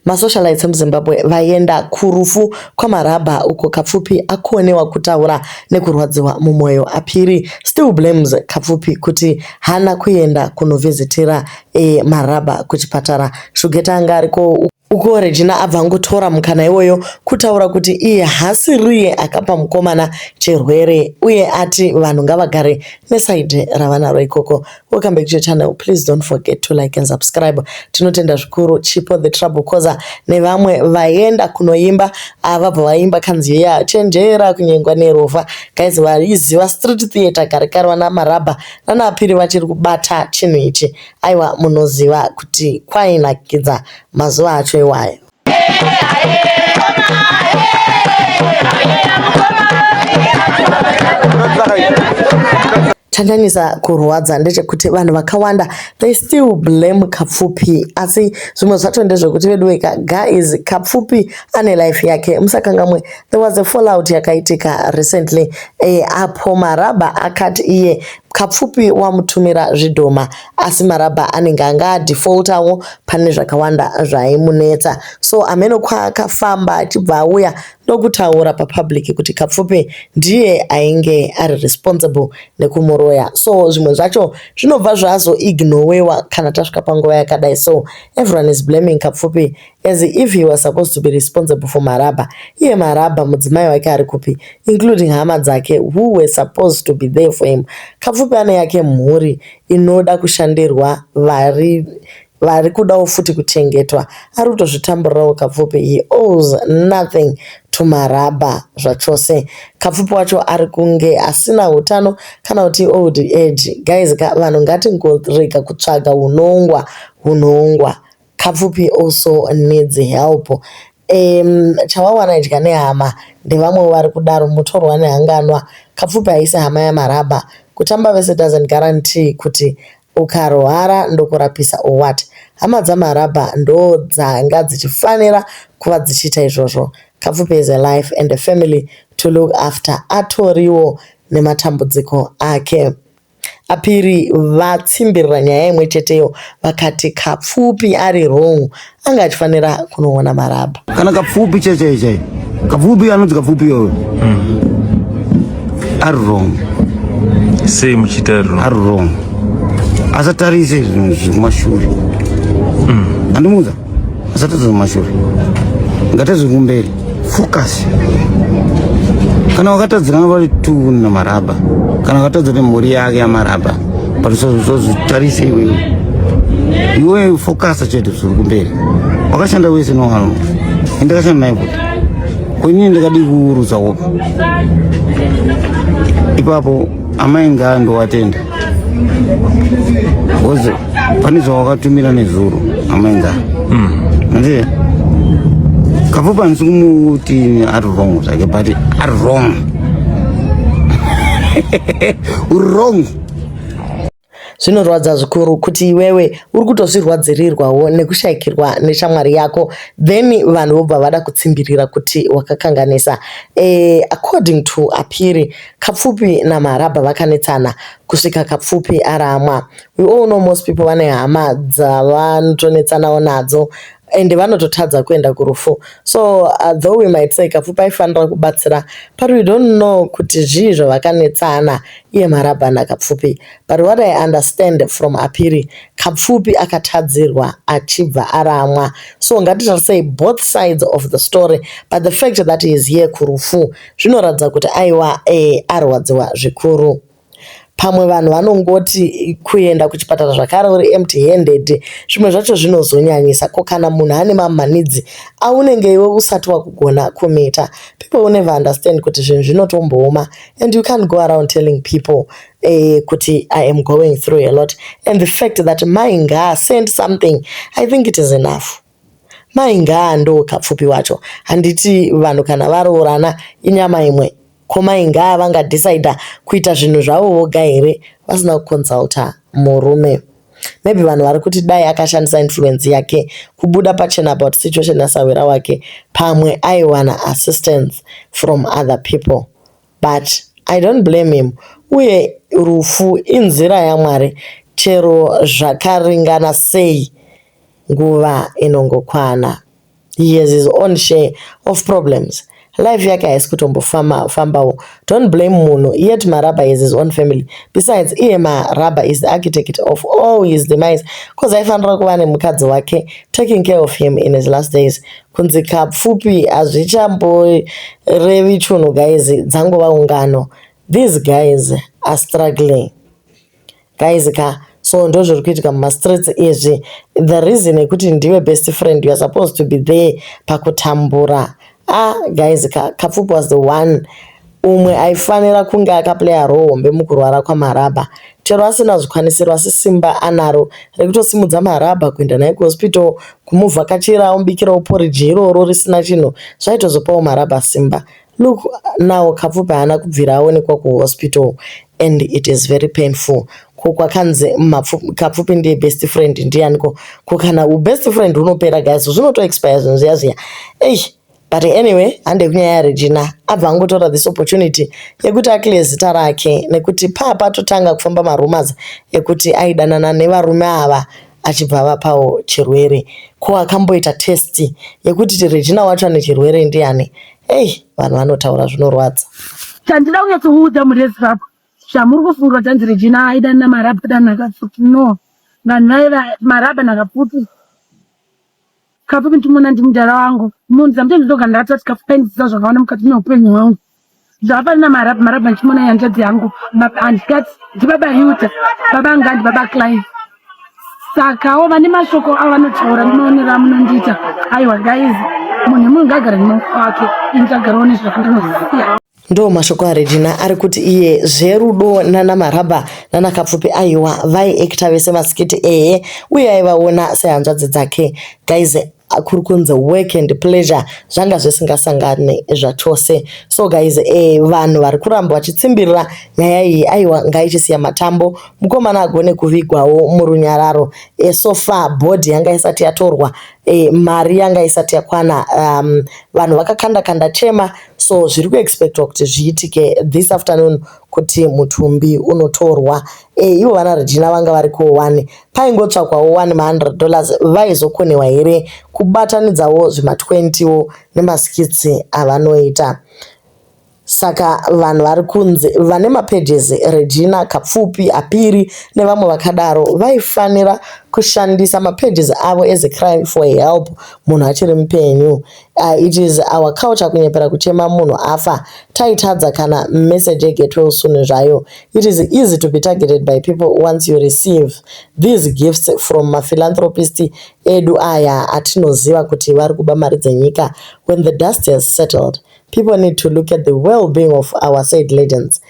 Masocialites emuZimbabwe vaenda kurufu kwaMarabha uko Kapfupi akonewa kutaura nekurwadziwa mumwoyo aPhiri still blames Kapfupi kuti haana kuenda kunovhizitira Marabha kuchipatara. Shugeta anga ariko uko Regina abva angotora mukana iwoyo kutaura kuti iye haasiriye akapa mukomana chirwere uye ati vanhu ngavagare nesaidhi ravanaro ikoko. Welcome back to your channel. Please don't forget to like and subscribe. Tinotenda zvikuru Chipo the Trouble Causer nevamwe vaenda kunoimba ava vaimba kanzi ya chenjera kunyengwa nerovha. Guys vaiziva street theater kare kare vana marabha nana apiri vachiri kubata chinhu ichi. Aiwa munoziva kuti kwainakidza mazuva acho iwayo. chanyanyisa kurwadza ndechekuti vanhu vakawanda they still blame kapfupi asi zvimwe zvacho ndezvekuti veduweka guys kapfupi ane life yake musakangamwe there was a fallout yakaitika recently e, apo marabha akati iye kapfupi wamutumira zvidhoma asi marabha anenge anga adefaultawo pane zvakawanda zvaimunetsa so ameno kwaakafamba achibva auya ndokutaura papublic kuti kapfupi ndiye ainge ari responsible nekumuroya so zvimwe zvacho zvinobva zvazoignowewa kana tasvika panguva yakadai so everyone is blaming kapfupi As if he was supposed to be responsible for Marabha. Iye Marabha mudzimai wake ari kupi? Including hama dzake who were supposed to be there for him. Kapfupi ane yake mhuri inoda kushandirwa vari vari kudawo futi kuchengetwa. Ari kutozvitamburirawo Kapfupi. He owes nothing to Marabha zvachose. Kapfupi wacho ari kunge asina utano kana kuti old age. Guys ka vanhu ngatingorega kutsvaga unongwa unongwa. Kapfupi also needs help um, chawawana idya nehama ndevamwewo vari kudaro mutorwa nehanganwa kapfupi haisi hama yamarabha kutamba vese doesn't guarantee kuti ukarwara ndokurapisa or what hama dzamarabha ndo dzanga dzichifanira kuva dzichiita izvozvo kapfupi is a life and a family to look after atoriwo nematambudziko ake Apiri vatsimbirira nyaya imwe cheteyo vakati Kapfupi ari wrong anga achifanira kunoona marabha. Kana Kapfupi chai chai chai Kapfupi anonzi Kapfupi iyoyo ari wrong. Sei muchiita ari wrong? Ari wrong asatarise zvinhu zviri kumashure handimuudza asatadza kumashure ngatadze kumberi focus kana wakatadzirana vari tu namaraba kana wakatadza nemhuri yake yamaraba but usazozvitarise iwewe iwe focus chete zviri kumberi wakashanda wese nowanhu indakashanda naye kuti kwenini ndikadi kuurudza wopa ipapo amai ngaa ndowatenda Koze pane zvawakatumira nezuro amainza manje hmm. kafupa ndisi kumuti ari wrong zvake but ari wrong uri wrong zvinorwadza zvikuru kuti iwewe uri kutozvirwadzirirwawo nekushayikirwa neshamwari yako then vanhu vobva vada kutsimbirira kuti wakakanganisa e, according to apiri Kapfupi naMarabha vakanetsana kusvika Kapfupi aramwa. We all know most people vane hama dzavanotonetsanawo nadzo ende vanototadza kuenda kurufu so uh, though we might say kapfupi aifanira kubatsira but we don't know kuti zvii zvavakanetsana iye marabha nakapfupi but what i understand from apiri kapfupi akatadzirwa achibva aramwa so ngatitarisei both sides of the story but the fact that he is here kurufu zvinoratidza kuti aiwa e, arwadziwa zvikuru pamwe vanhu vanongoti kuenda kuchipatara zvakare uri empty handed zvimwe zvacho zvinozonyanyisa ko kana munhu ane mamanidzi aunenge iwe usati wakugona kumita people will never understand kuti zvinhu zvinotombooma and you can't go around telling people eh, kuti i am going through a lot and the fact that mai ngaasend something i think it is enough Mai Ngaa ndoo kapfupi wacho handiti vanhu kana varoorana inyama imwe ko mai Ngaa vanga decider kuita zvinhu zvavo voga here vasina ku consulter murume. Maybe vanhu vari kuti dai akashandisa influence yake kubuda pachena about situation ya sahwira wake pamwe aiwana assistance from other people but I don't blame him uye rufu inzira ya Mwari chero zvakaringana sei nguva inongokwana he has his own share of problems life yake haisi kutombofambawo don't blame munhu yet marabha has his own family besides iye marabha is the architect of all his demise cause aifanira kuva nemukadzi wake taking care of him in his last days kunzi kapfupi hazvichamborevi chunhu guys dzangova ungano these guys are struggling Guys ka so ndozviri kuitika muma streets izvi the reason yekuti ndiwe best friend you are supposed to be there pakutambura ah guys ka Kapfupi was the one umwe aifanira kunge akaplaya role hombe mukurwara kwaMarabha chero asina zvikwanisiro asi simba anaro rekutosimudza Marabha kuenda naye kuhospital kumuvhakachira omubikirawo porridge iroro risina chinhu zvaitozopawo Marabha simba Look now Kapfupi haana kubvira aonekwa kuhospital and it is very painful. Ko kwakanzi Kapfupi ndiye best friend ndiyaniko? Ko kana ubest friend hunopera guys zvinoto expire zvinhu zviya zviya. Eish but anyway hande kunyaya yaRegina abva angotora this opportunity yekuti akile zita rake nekuti paa patotanga kufamba marumors ekuti aidanana nevarume ava achibva avapawo chirwere ko akamboita test yekuti Regina wacho ane chirwere ndiani hey vanhu vanotaura zvinorwadza chandida kunyatso kuudza murezi vapo zvamuri kufunga kuti anzi Regina aida na marabha kana akafuti no vanhu vaiva marabha nakafuti kapo mitumona ndi mudhara wangu munhu sometimes ndoga ndatoa tikafu kaindidzidza zvakawanda mukati meupenyu hwangu zvapari na marab marab ndichimona yanjadzi yangu handikati ndibaba yuta baba anga ndibaba clive sakawo vane mashoko avo vanotaura ndinoonera munondiita aiwa guys munhu munhu ngagara nemawoko wake ini tagarawo nezvakandinoziva Ndo mashoko aRegina ari kuti iye zverudo nana Marabha nana Kapfupi aiwa vaiekita vese masikiti ehe uye aivaona sehanzvadzi dzake guys kuri kunzi work and pleasure zvanga zvisingasangane zvachose so guys eh, vanhu vari kuramba vachitsimbirira nyaya iyi aiwa ngaichisiya matambo mukomana agone kuvigwawo murunyararo eh, so far bhodhi yanga isati yatorwa eh, mari yanga isati yakwana um, vanhu vakakanda kanda chema So zviri kuexpectwa kuti zviitike this afternoon kuti mutumbi unotorwa. E, ivo vana Regina vanga vari kuwo wani. Paingotsvakwawo wani ma100 dollars vaizokonewa here kubatanidzawo zvima20 wo nemaskitsi avanoita. Saka vanhu vari kunzi vane mapages Regina Kapfupi, Apiri nevamwe vakadaro vaifanira kushandisa mapages avo as a crime for help munhu achiri mupenyu. Uh, it is our culture kunyepera kuchema munhu afa taitadza kana message yegetwell soon zvayo it is easy to be targeted by people once you receive these gifts from maphilanthropist edu aya atinoziva kuti vari kuba mari dzenyika when the dust has settled people need to look at the well-being of our said legends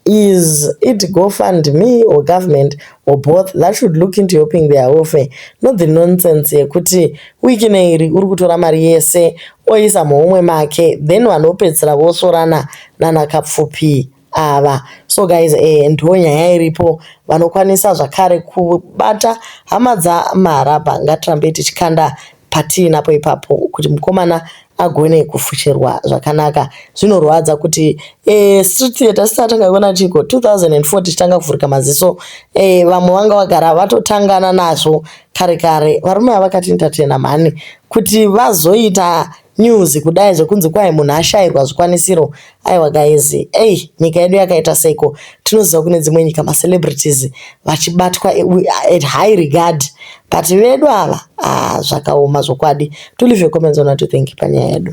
Is it go fund me or government or both that should look into helping their welfare not the nonsense yekuti wiki neiri uri kutora mari yese oisa muhomwe make then vanhu vopedzisira vosvorana nana kapfupi ava so guys eh, ndiwo nyaya iripo vanokwanisa zvakare kubata hama dzamarabha ngatirambei tichikanda patiinapo ipapo kuti mukomana agone kufushirwa zvakanaka zvinorwadza kuti eh, street theatre sisi atanga kuona chiko 2004 tichitanga kuvhurika maziso eh, vamwe vanga vagara vatotangana nazvo kare kare varume avakati entertainer mhani kuti vazoita news kudai zvekunzi kwai munhu ashairwa zvikwanisiro Aiwa guys, ey nyika yedu yakaita seiko tinoziva kune dzimwe nyika ma celebrities vachibatwa at high regard but vedu ava ah, zvakaoma zvokwadi. To leave your comments on what you think panyaya yedu.